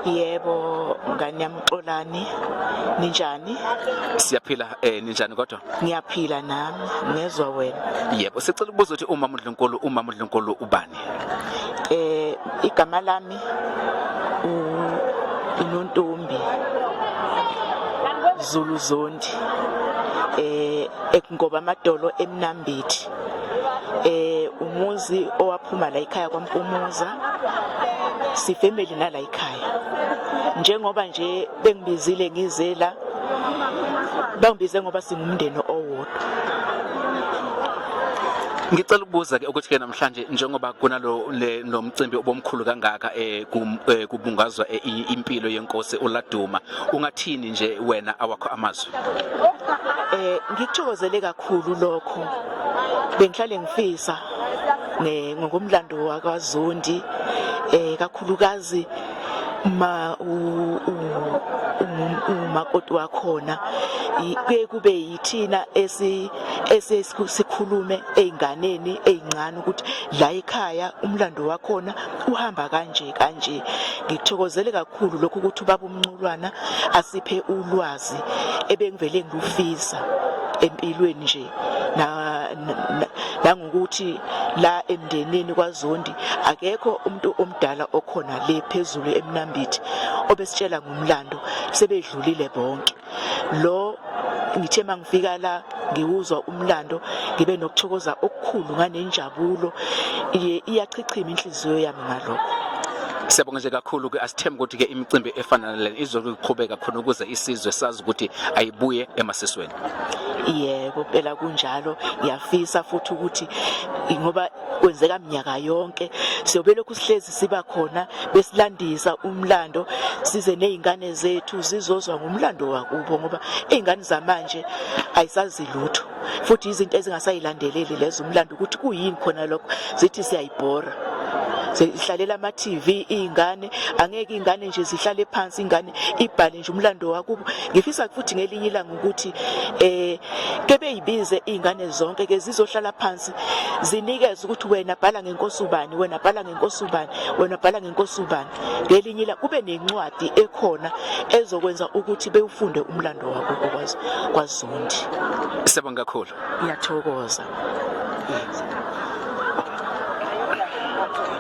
Yebo ngane yami Xolani ninjani? Siyaphila eh ninjani kodwa? Ngiyaphila nami ngezwa wena. Yebo sicela ukubuza ukuthi umama uNdlunkulu umama uNdlunkulu ubani? eh igama lami uNontombi Zulu Zondi eh ekungoba amadolo emnambithi eh umuzi owaphuma la ekhaya kwaMpumuza sifamily nala ekhaya njengoba nje bengibizile ngizela bangibize ngoba singumndeni owodwa ngicela ukubuza ke ukuthi ke Mhlanje njengoba kunalo le nomcimbi obomkhulu kangaka eh, kum- eh, kubungazwa eh, i- impilo yenkosi uLaduma ungathini nje wena awakho amazwi eh ngikuthokozele kakhulu lokho bengihlale ngifisa ne- ngokomlando wakwaZondi eh kakhulukazi ma u- u- u- umakoti wakhona i- kuye kube Thina esi esesikhulume ezinganeni ezincane ukuthi la ekhaya umlando wakhona uhamba kanje kanje. Ngithokozele kakhulu lokhu ukuthi ubaba umnculwana asiphe ulwazi ebengivele ngilufisa empilweni nje na nangokuthi la emndenini kwaZondi akekho umuntu omdala okhona le phezulu emnambithi obesitshela ngomlando sebedlulile bonke lo ngithe mangifika la ngiwuzwa umlando ngibe nokuthokoza okukhulu nganenjabulo iyachichima inhliziyo yami ngalokho siyabonga nje kakhulu ke asithembe ukuthi ke imicimbi efana nalena izokuqhubeka khona ukuze isizwe sazi ukuthi ayibuye emasisweni yebo phela kunjalo ngiyafisa futhi ukuthi ngoba kwenzeka mnyaka yonke siyobe lokhu sihlezi siba khona besilandisa umlando size nezingane zethu zizozwa ngomlando wakubo ngoba izingane zamanje ayisazi lutho futhi izinto ezingasayilandeleli lezo umlando ukuthi kuyini khona lokho zithi siyayibhora zihlalela ama-tv iy'ngane angeke iy'ngane nje zihlale phansi ingane ibhale nje umlando wakubo ngifisa futhi ngelinye ilanga ukuthi eh kebeyibize izingane zonke ke zizohlala phansi zinikeze ukuthi wena bhala ngenkosi ubani wena bhala ngenkosi ubani wena bhala ngenkosi ubani ngelinye ila kube nencwadi ekhona ezokwenza ukuthi bewufunde umlando wabo kwazi kwazondi sebonga kakhulu ngiyathokoza